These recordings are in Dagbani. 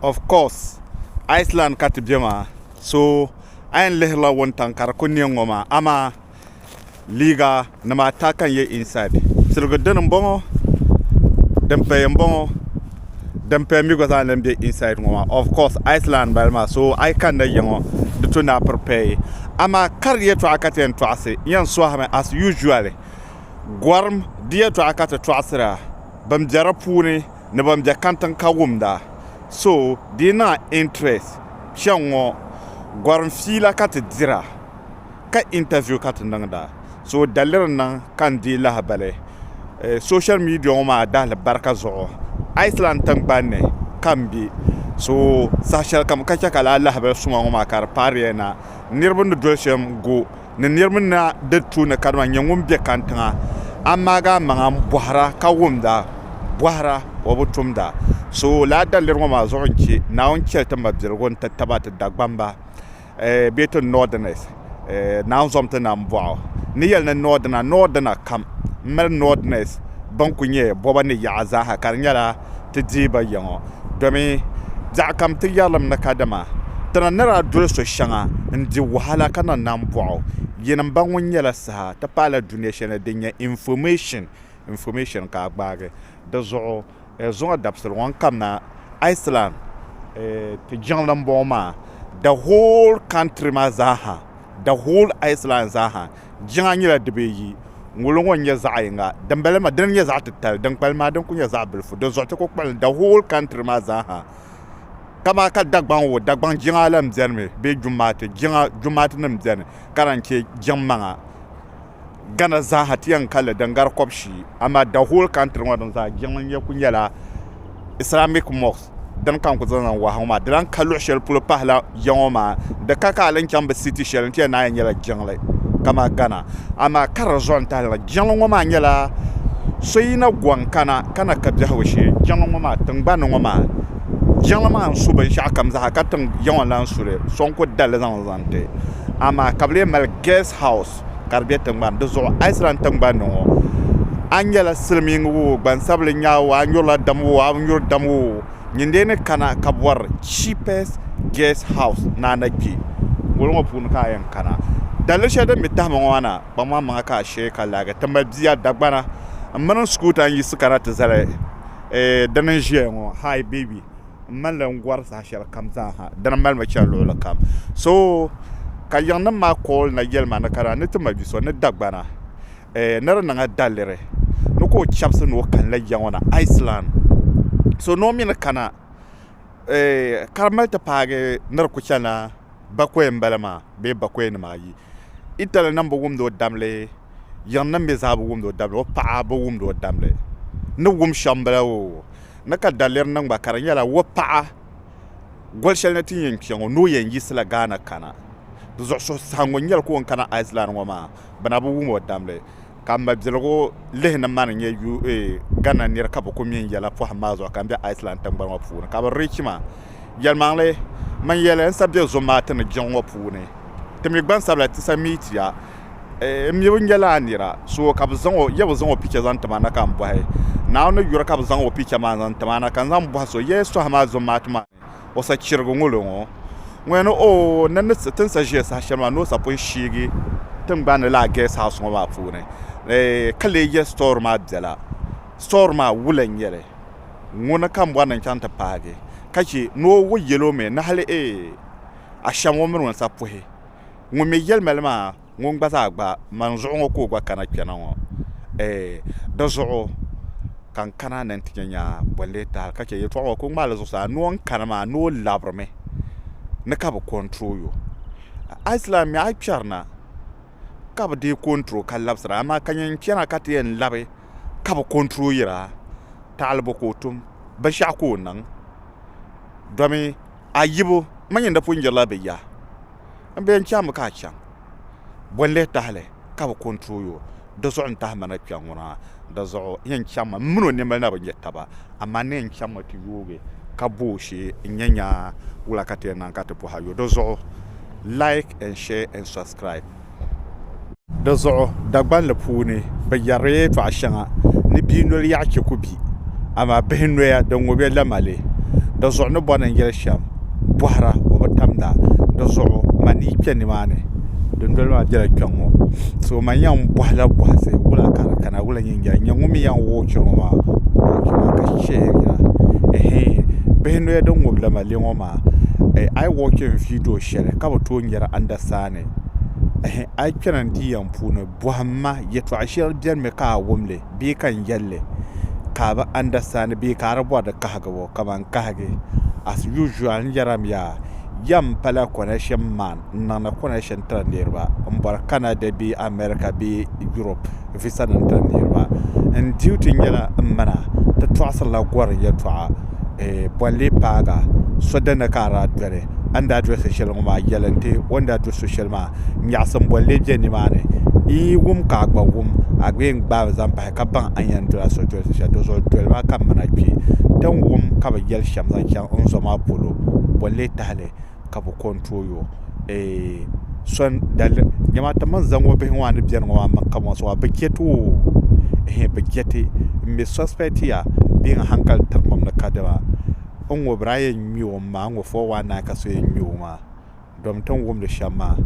Of course Iceland ka ti be maa so a yɛn lihirila wuntaŋ ka di ku niɛ ŋɔ maa amaa liiga nima ata ka n yɛ inside tiligi dini n bɔŋɔ din paya n bɔŋɔ din paya mi gba zaa n lahi be inside ŋɔ maa of course Iceland n bala maa so a yi kanna ya ŋɔ di to ni a prepare amaa kari yɛltɔɣa ka ti yɛn tɔɣisi n yɛn sɔhimi as usually gɔrim di yɛltɔɣa ka ti tɔɣisira ban bɛ di puuni ni ban bɛ kantiŋ ka wumda. So dee naa interest kpɛŋ ŋɔ gɔrim fiila ka ti dira ka interview ka ti niŋda. So daliri n niŋ ka n deei lahabali social media ŋɔ maa dahili barika zuɣu. Iceland tingbani ni ka n be so saha shɛlikam ka chɛ ka lala lahabali suma ŋɔ maa ka di paariya na niriba ni doli shɛm go. ni niriba ni na di tuuni kadama n-nyɛ ŋun be kantiŋa, amaaga amaŋa m-bɔhira ka wumda bɔhira o bi tumda so lala daliri ŋɔ maa zuɣu n-chɛ Naawuni chɛli ti mabiligu nti taba ti Dagbamba bee ti Northerners Naawuni zom ti na m-bɔh o n ni yɛli ni Northerner Northerner kam m-mali Northerners ban kuli nyɛ bɔba ni yaɣa zaa ha ka di nyɛla ti deei ba ya ŋɔ, domi daɣikam ti yɛrilim ni kadama ti na ni daa doli so shɛŋa n-di wahala ka na nam bɔɣ o. Yinim ba ŋɔ nyɛla saha ti paai la dunia shɛli ni din nyɛ information, information ka a gbaagi di zuɣu. Zuŋɔ dabisili ŋɔ n-kamina Iceland ti jiŋli m-bɔŋɔ maa, the whole country maa zaa ha, the whole Iceland zaa ha. Jiŋa nyɛla dibee yi, ŋolo ŋɔ n-nyɛ zaɣ yiŋa, dimbala maa dini n-nyɛ zaɣ titali, dinkpali maa dini kuli nyɛ zaɣ bilifu, di zuɣu ti kuli kpalimi the whole country maa zaa ha. Kamaa ka Dagbaŋ ŋɔ, Dagbaŋ jiŋa la m-beni mi bee Jumaati jiŋa, Jumaati nim beni ka lahi che jiŋ maŋa. Ghana zaa ha ti yɛn kali li din gari kɔb'shii amaa the whole country ŋɔ din zaa jiŋli n-nyɛ kuli nyɛla. islamic mosque din ka n ku zaŋ zaŋ wahi ŋɔ maa di lahi ka luɣu shɛli polo pahila ya ŋɔ maa di ka ka a ni chaŋ bi siti shɛli n ti yɛli ni a yɛn nyɛla jiŋli kamani gana amaa ka di zuɣu n tahi la jiŋli ŋɔ maa nyɛla so yina gɔŋ kana ka na ka biɛhigu shee jiŋli ŋɔ maa tingbani ŋɔ maa jiŋli maa n su binshɛɣu kam zaa ka ya ŋɔ lahi suli so n ku dalili zaŋ zaŋ ti amaa ka bi lee mali gɛs haus ka di be tiŋgbani di zuɣu a yi sira n tiŋgbani ŋɔ a nyɛla silimiin woo gbansabili nyaa woo a nyurila dam woo a bi nyuri dam woo nyin dee ni kana ka bɔri cheapest guest house ni a na kpe ŋɔlo ŋɔ puuni ka a yɛn kana daliri shɛli din be tahi ma ŋɔ maa na kpaŋmaŋ maŋa ka a sheei ka laagi ti mali bia Dagbana m mini n sukuuta n yiɣisi kana ti zali eeh dini n ʒiya ŋɔ hi baby. n malila n gɔri saha shɛli kam zaaha dini mali mi chani luɣuli kam so ka yiŋnim maa kooli na yɛli ma ni kana ni ti ma bi so ni Dagbana eh, ni di niŋa daliri ni ka o chabisi ni o kanila ya ŋɔ na Iceland so ni o mi ni kana eh, ka di mali ti paagi ni di ku chana Bakɔi m-bala maa bee bakɔi nima ayi. Itali nam bi wumd o dabili, yiŋ nim mi zaa bi wumd o dabili, o paɣa bi wumd o dabili. Ni wum shɛm bala o ni ka daliri niŋ gba ka di nyɛla o paɣa goli shɛli ni ti yɛn kpe ŋɔ ni o yɛn yiɣisila Ghana kana. Di zuɣu suhusaɣingu n-nyɛli ka o ni kana Iceland ŋɔ maa bɛ na bi wum o dabili. ka mabiligu lihi ni mani nyɛ UA Ghana nira ka bi ku mini yɛla pɔhim maa zuɣu ka n be Iceland tiŋgbani ŋɔ puuni ka bi reach ma. Yɛlimaŋli, mani yɛli n sa be Zomati ni jiŋ ŋɔ puuni. Ti mi gbansabila ti sa meet ya. N mi bi nyɛla a nira, so ka bi zaŋ o, ya bi zaŋ o picture zaŋ ti ma na ka n bɔhi, Naawuni yuri ka bi zaŋ o picture maa zaŋ ti ma na ka n zaŋ bɔhi so, ya yi sɔhi ma Zomati maa ni? O sa chirigu ŋolo ŋɔ ŋɔya ni o ni ni ti sa ʒiya saha shɛli maa ni o sa pun shiigi tiŋgbani ni laa gas house ŋɔ maa puuni ka lee yɛ store maa biɛla store maa wula n nyɛli ŋuni ka n bɔri ni n chaŋ ti paagi ka che ni o wo yɛli o mi ni hali eei ashɛm o mini ŋun sa puhi ŋun mi yɛli mali maa ŋun gba zaa gba man zuɣu ŋɔ ka o gba kana kpɛna ŋɔ di zuɣu ka n kana ni n ti nya bolli tahili ka chɛ yɛltɔɣa ŋɔ ka o ŋmaai li zuɣusaa ni o ni kani maa ni o labirimi ni ka bi kɔntirol o a yi lahi mi a yi kpɛrina ka bi deei kɔntirol ka labisira amaa ka nyɛ n kpɛna ka ti yɛn labi ka bi kɔntiroyira taɣalibo ka o tum binshaɣu ka o niŋ domi ayibu n ma nyini di pun jirila bɛ ya n bɛ yɛn chaŋ mi ka a chaŋ bɔ n lihi tahili ka bi control you di zuɣu n tahi ma na kpɛŋ ŋɔ na di zuɣu n yɛn chaŋ mi n mini o niɛmali na bi nyɛ taba amaa n ni yɛn chaŋ mi ti yoogi ka bɔ o shee n nyɛ nya wula ka ti yɛn niŋ ka ti bɔhi a yo di zuɣu like and share and subscribe. Di zuɣu Dagbanli puuni bɛ yɛrila tɔɣ shɛŋa ni bia noli yaɣ chɛ ku bi, amaa bihi noya din ŋub ya lamali. Di zuɣu ni bɔna n-yɛli shɛm bɔhira o bi tamda. Di zuɣu ma ni yi kpe nimaani, dindoli maa bela kpiɔŋ ŋɔ. So ma yɛn bɔhila bɔhisi wula ka di kana wula n-yɛn jɛli? Nyɛ ŋun mi yɛn wuhi chɛ ŋɔ maa wuhibu chɛ maa ka shihiri yila ehe! Bihi noya din ŋub lamali ŋɔ maa, a yi wuhi chɛ n-viidi o shɛli ka bi tooi nyari andasani. ni, Ɛhɛ, a yi kpɛna n di yɛm puuni, bɔhim ma, yɛtɔɣ shɛli bɛnimi ka a wum li bee ka n yɛl li ka a bi andasitandi bee ka a di bɔri di kahigibu? Kaman kahigi, as usual, n yɛrim ya, yɛm pala kɔnɛshin man n niŋdi kɔnɛshin tiri niriba m-bɔri Canada bee America bee Europe. visa nim tiri niriba n duty nyɛla n mana ti tɔɣisirila gɔrim yɛltɔɣa bolli paaga so dini ka a daa doli a ni daa doli so shɛli ŋɔ maa yɛli n ti o ni daa doli so shɛli maa nyaɣisim bolli bɛ ni maa ni yi yi wum ka a gba wum a gba yɛn gbaai mi zaŋ pahi ka baŋ a ni yɛn doli a so doli so shɛli di zuɣu doli maa ka n mana kpɛ ti ni wum ka bi yɛli shɛm zaŋ chaŋ n zɔ maa polo bolli tahali. ka bi ko n tooi yo dama ti mini zaŋ bihi ŋo maa ni biɛni ŋo maa maŋ ka mosi maa bi chɛ too bi chɛ ti n mii sɔspɛt ya bee n hankali tiri mini ni ka dama n ŋo bira a yɛn ŋmɛ o mi maa n ŋo 419 ka so yɛn ŋmɛ o maa domi ti ni wumdi shɛm maa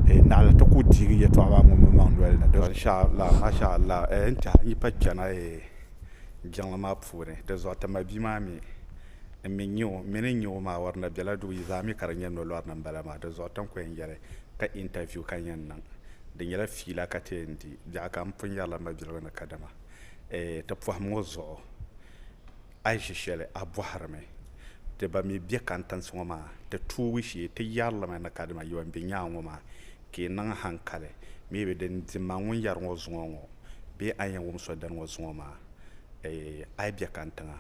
naɣali ti ku deegi yɛltɔɣa maa ŋun mi maŋ nolini n tiɛhi n yi pa kpɛna jiŋli maa puuni dinzuɣu ti ma bia maa mii N mi n-nya o, m mini n nya o maa wari na bela duu yi zaa mi ka di nyɛ nolɔri ni m-bala maa. Di zuɣu tiŋkɔya n-yɛli ka interview ka n yɛn niŋ. Di nyɛla fiila ka ti yɛn di biɛɣu ka m pun yɛrila mabiligu ni kadama eeh ti pɔhim ŋɔ zuɣu a yi ʒi shɛli a bɔhirimi ti ban mi be kantinsi ŋɔ maa ti tuubu shee ti yɛrilimi ni kadama yo m-be nyaaŋa ŋɔ maa ka yi niŋ hankali maybe din di ma ŋun yɛri ŋɔ zuŋɔ ŋɔ bee a ni yɛn wum so dini ŋɔ zuŋɔ maa eeh a yi be kantiŋa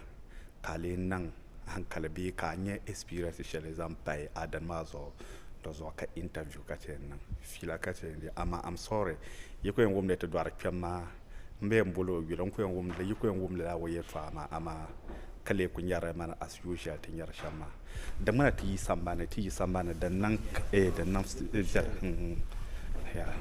ka a lee niŋ hankali bee ka a nya experience shɛli zaŋ pahi adani maa zuɣu di zuɣu ka interview ka chɛ n-niŋ fiila ka chɛ n-di amaa am sorry yi ku yɛn wumdi ti dɔɣiri kpɛm maa m be yɛn bol o yuli n ku yɛn wumdila yi ku yɛn wumdila o yɛltɔɣa maa amaa ka lee ku nyari li mani as usual ti nyari shɛm maa. Di ŋmana ti yi sambani, ti yi sambani din niŋ eh din niŋ viɛli hmm yeah.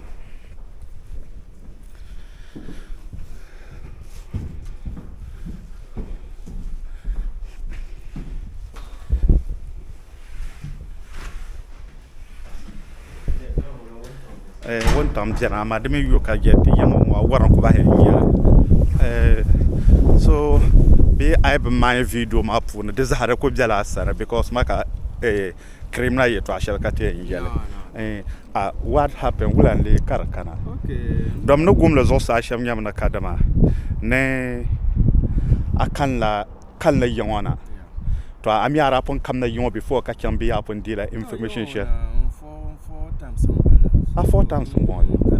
Eh, wuntaŋ biɛni amaa di mii yo ka je ti yɛŋ ŋɔ a wɔra ku bahi n nya eh, so bee a yi bi maai viidiyo maa puuni di zaa di ku biɛla a sani because ma ka eh, kirimina yɛtɔɣa shɛli ka ti yɛn yɛli eh, a what happened wula n lee ka di kana dom ni gumli zuɣusaa shɛm nyɛmi ni kadama ni a kanla kalinli ya ŋɔ na to a mi ara pun kamna yiŋɔ before ka chaŋ biya pun deela information shɛli a four times n bɔŋɔ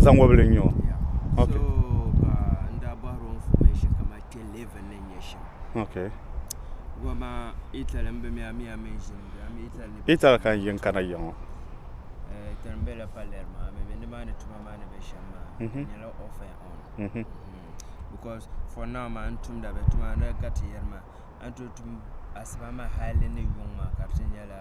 zaŋ wɔbili n nyɛ o kpɛ level ni nyɛ shɛm okay goma Italy n bɛ mi ami ami n ʒini bɛ ami Italy ni Italy kan yin kana yiŋ ŋɔ tani bɛ la Palermo maa mi bɛ nimaani tuma maa ni bɛ shɛm maa mhm. nyɛla off and on mm -hmm. because for now maa n tumda bɛ tuma ni gati yɛri maa an to tum asiba maa hali ni yuŋ maa ka di nyɛla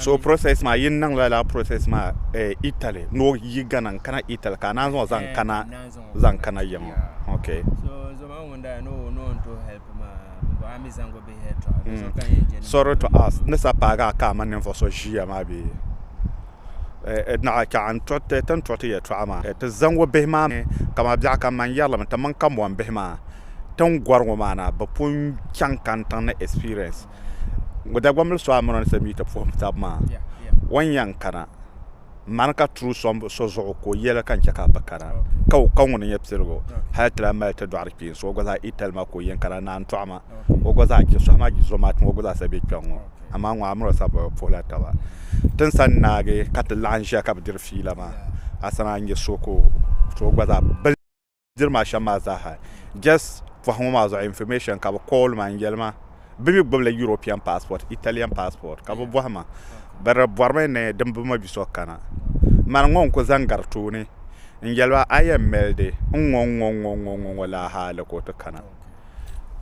so process maa yin niŋla la process maa eh, Italy ni o yi Ghana n kana Italy ka a naan zaŋ zaŋ kana zaŋ kana yiŋa ok sorry to us ni sa paagi a ka a ma ninvuɣu so ʒiya maa bee Naɣa ka n ti ni tɔri ti yɛtɔɣa maa ti zaŋgu bihi maa mi kaman biɛɣu ka man yɛrlimi ti mini kambɔn bihi maa tin gɔri ŋɔ maa na bɛ pun chaŋ kantiŋ ni experience ŋɔ Dagbaŋ mili so a mini o ni ti miiti puhim taba maa o ni yɛn kana mani ka turi so zuɣu ka o yɛli ka n chɛ ka a bi kana ka o kaŋ ŋuni nyɛ piligu hali ti lahi mali ti dɔɣiri kpee so o gba zaa itali ma ka o yɛn kana naantɔɣu ma o gba zaa chɛ sohi maa gba zaa sa be kpɛŋ ŋɔ amaa ŋɔ amina o sabi bi puhila taba ti ni sani naagi ka ti laɣim ʒiya ka bi diri fiila maa asana n nyɛ so ka o gba zaa bini diri maa shɛm maa zaaha jɛs pɔhi ŋɔ maa zuɣu infirimeshin ka bi kɔɔli ma n yɛli ma bi mi gbubi la yuropin paspɔt italiyan paspɔt ka bi bɔhi ma bi di bɔri mi ni din bi ma bi so kana n mali ŋɔ n ku zaŋ gari tooni n yɛli ba a yɛn milidi n ŋɔ n ŋɔ n ŋɔ laa ha hali ka o ti kana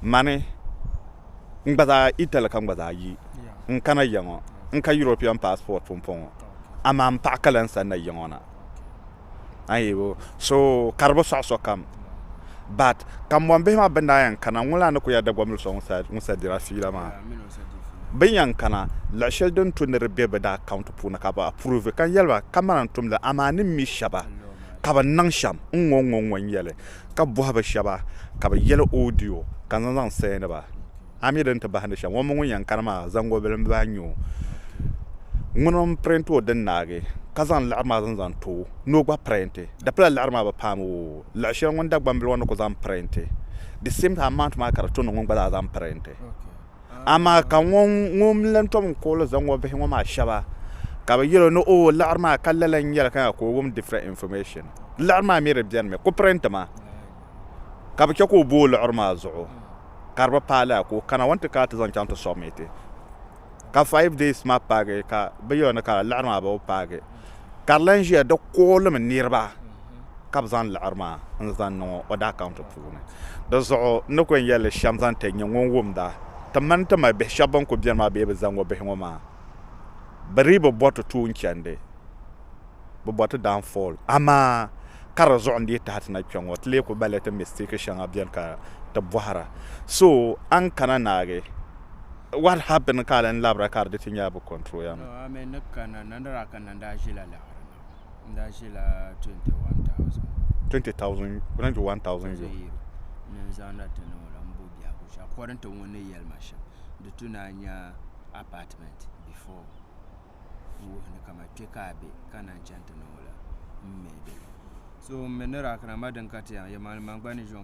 mani. N gba zaa Italy ka n gba zaa yi n kana ya ŋɔ. N ka European passport pumpɔŋ ŋɔ amaa m paɣa ka lan san na ya ŋɔ na. Ayibo, so ka di bi sɔɣi sokam. But kambɔnbihi maa bɛ ni daa yɛn kana ŋun lan ni ku ya Dagbaŋmili so ŋun sa dira fiila maa. Bɛ ni yɛn kana, luɣ shɛli din tu ni di be bɛ daa account puuni ka bɛ approve ka n yɛli ba kamani n tumdi amaa ni mi shɛba. ka bɛ niŋ shɛm n-ŋɔŋɔŋɔ n-yɛli ka bɔhi bɛ shɛba ka bɛ yɛli odiyo ka n zaŋ sɛɛndi ba. A mi di ni ti bahindi shɛm, ŋumbɔŋɔ ŋun yɛn kani maa zaŋgobili m-baa n-nyɛ o. Ŋuni m-pirint o din naagi ka zaŋ liɣiri maa zaŋ zaŋ ti o ni o gba pirinti. Di pila liɣiri maa bi paam o luɣ shɛli ŋun Dagbambili ŋɔ ni ku zaŋ pirinti. The same amount maa ka di to ni ŋun gba zaa zaŋ pirinti. amaa ka ŋun mi lan tom n-kuɣili zaŋ o bihi ŋɔ maa shɛba ka bɛ yɛl o ni oo liɣiri maa ka lala n-nyɛli ka nya ka o wum different information. Liɣiri maa mi di beni mi ku print ma ka bɛ chɛ ka o bo o liɣiri maa zuɣu ka di bi paai lala ka o kana o ni ti kana ti zaŋ chaŋ ti submit ka five days maa paagi ka bɛ yɛl o ni ka lala liɣiri maa bi paagi ka di lan ʒiya di kuɣilim niriba. ka bɛ zaŋ liɣiri maa n-zaŋ niŋ o order account puuni. Di zuɣu n ni kul yɛl li shɛm zaŋ ti nya ŋun wumda, Ti mani ti mali bihi shɛb bɛn kul beni maa bee bɛ zaŋ o bihi ŋɔ maa, bɛ dii bi bɔri ti tuun chandi, bɛ bɔri ti daan fall. Amaa ka di zuɣu n-dii tahi ti na kpe ŋɔ, ti lee kul balila ti mistake shɛŋa beni ka ti bɔhira. So a ni kana naagi, what happened ka a lan labira ka di di ti nya a bi control ya mi? No, a mi ni kana, na ni daa kani na ni daa ʒila liɣiri na. n daa ʒila 21000 20000 kuna n ʒi 1000 ʒi yiri ni n zaŋda ti niŋɔ la n bo biɛhigu shɛm according to ŋun ni yɛli ma shɛm di tu naa nya apartment before n wuhi ni kama kpe ka a be ka na n chani ti niŋɔ la m mi di so m mi ni daa kana ma din ka ti yɛn yɛ malima gba ni ʒiɛm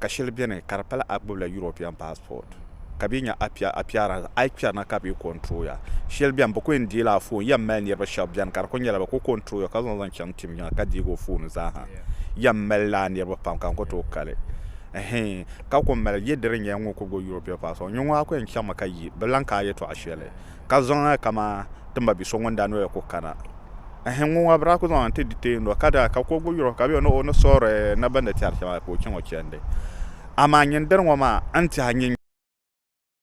ka shɛli beni ka di pala a gbubila European passport ka bɛ nya appearance a kpɛri na ka bɛ control ya shɛli beni bɛ kuli yɛn deela a phone yɛn mali niriba shɛba beni ka di kuli nyɛla bɛ kuli control ya ka zaŋ zaŋ chaŋ tim yiŋa ka deegi o phone zaaha yɛn mali laa niriba pam ka n kuli tooi kali ɛhɛn ka kuli mali yɛ di di nyɛla ŋun kuli gbubi European passport nyuŋɔ a kuli yɛn chaŋmi ka yi bɛ lan ka a yɛltɔɣa shɛli ka zaŋ a kaman ti ma bi so ŋun daa noya ku kana. Ɛhɛn, ŋun ŋɔ bi daa ku zaŋ a nti di teei noli, ka daa ka kuɣigu yuri o ka bɛ ni o ni soori na bɛ ni tɛri shɛm a ka o chaŋ o chandi. Amaa nyini diri ŋɔ maa, n tiɛhi nyin.